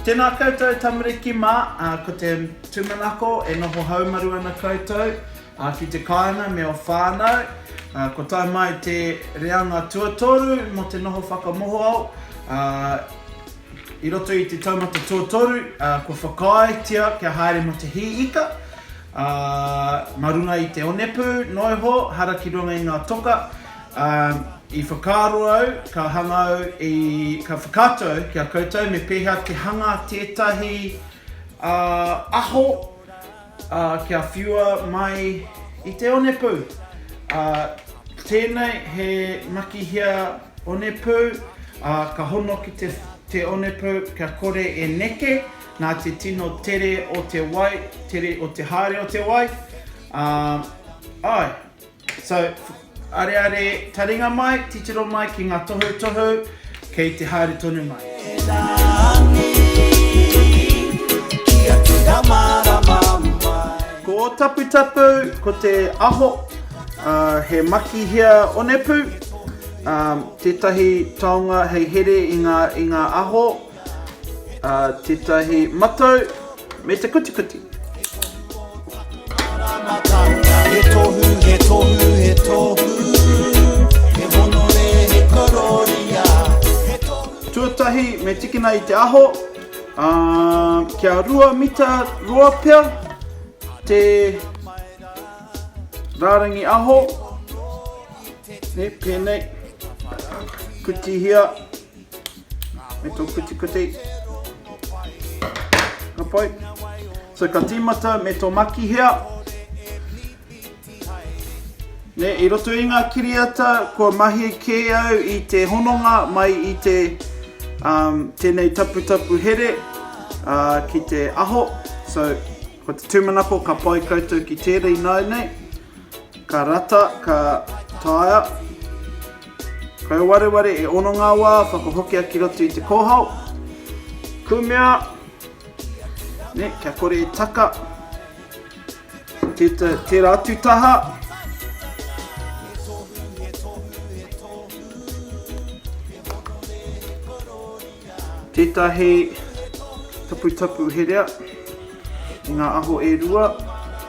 Tēnā koutou tamariki mā, ko te tūmanako e noho haumaru ana koutou ki te kāinga me ō whānau. Kua tae mai te reanga tuatoru mō te noho whakamohoao. I roto i te taumata tuatoru, kua whakaaetia kia haere mō te hī ika. Ā, mā runga i te onepū noiho hara ki runga i ngā toka, ā, i whakaaro au, ka hanga au i, ka whakaatu au ki a koutou me pēhea te hanga tētahi, ā, aho, ā, kia whiua mai i te onepū. Ā, tēnei he makihia onepū, ā, ka hono ki te, te onepū kia kore e neke, Nā te tino tere o te wai, tere o te haere o te wai, ā, āe. So, areare taringa mai, titiro mai ki ngā tohutohu kei te haere tonu mai. Ko Ōtaputapu, ko te aho, ā, he makihea onepū, ā, tētahi taonga hei here i ngā, i ngā aho. Ā, tētahi matau me te kutikuti. He tohu, he tohu, he tohu He honore, he kororia He tohu Tuatahi me tikina i te aho, ā, kia rua mita roa pea te rārangi aho, nē, pēnei, kutihia. me tō kuti kuti. Ka pai. So ka tīmata me tō makihea. Ne, i roto i ngā kiriata, kua mahi kē au i te hononga mai i te um, tēnei taputapu here uh, ki te aho. So, ko te tūmanako ka pai koutou ki tērei nāu nei. Ka rata, ka taia, Kau wareware e ono ngā wā whakahokia ki roto i te kōhao. Kumea, ne, kia kore e taka. Teta, tera atu taha. Tetahi taputapu herea i ngā aho e rua.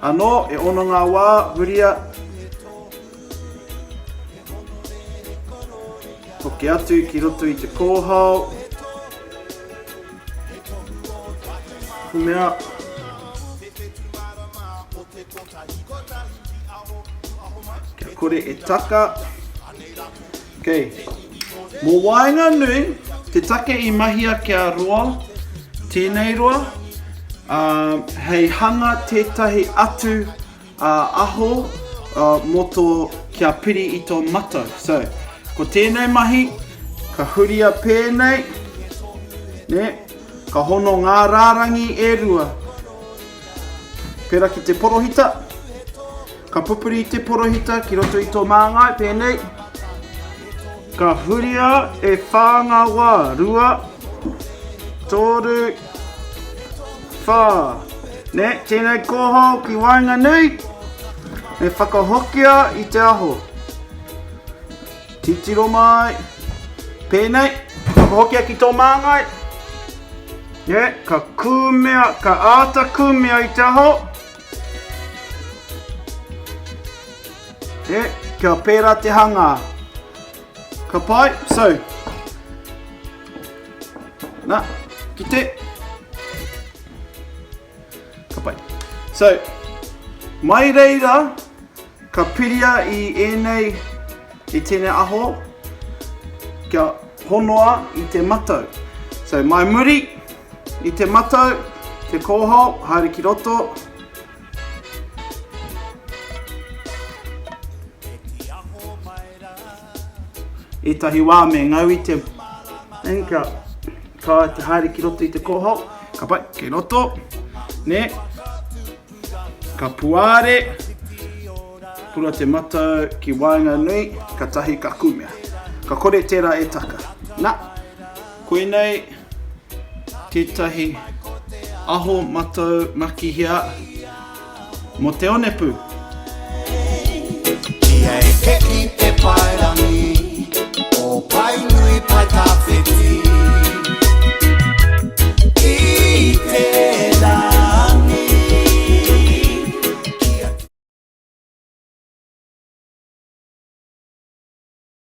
Ano, e ono ngā wā, huria. Hoki atu ki roto i te kōhao. Kumea. Kia kore e taka. Okay. Mō waenga nui, te take i mahia kia roa, tēnei roa, uh, hei hanga tētahi atu Ā, aho, ā, mō tō, kia piri i tō matau. So, ko tēnei mahi, ka huria pēnei, nē, ka hono ngā rārangi e rua, pērā ki te porohita, ka pupuri i te porohita ki roto i tō māngai, pēnei, ka huria e whā ngā wā, rua, tōru, Whā, nē, tēnei kōhō ki waenganui, me whakahokia i te aho. Titiro mai, pēnei, whakahokia ki tō māngai, nē, ka kūmea, ka āta kūmea i te aho, nē, kia pērā te hangā. Ka pai, so. Na, ki te. Ka pai. So, mai reira, ka piria i ēnei, i tēnei aho, kia honoa i te matau. So, mai muri, i te matau, te kōhao, haere ki roto. Ētahi wā me ngau i te thing kia kaua e te haere ki roto i te kōhao, ka pai, kei roto, nē, ka puāre, pura te matau ki waenganui, katahi ka kumea. Ka kore tērā e taka. Nā. Koinei tētahi aho matau makihia mo te onepu. Kia eke ki te paerangi o Paenui Paetawhiti i te rangi kia.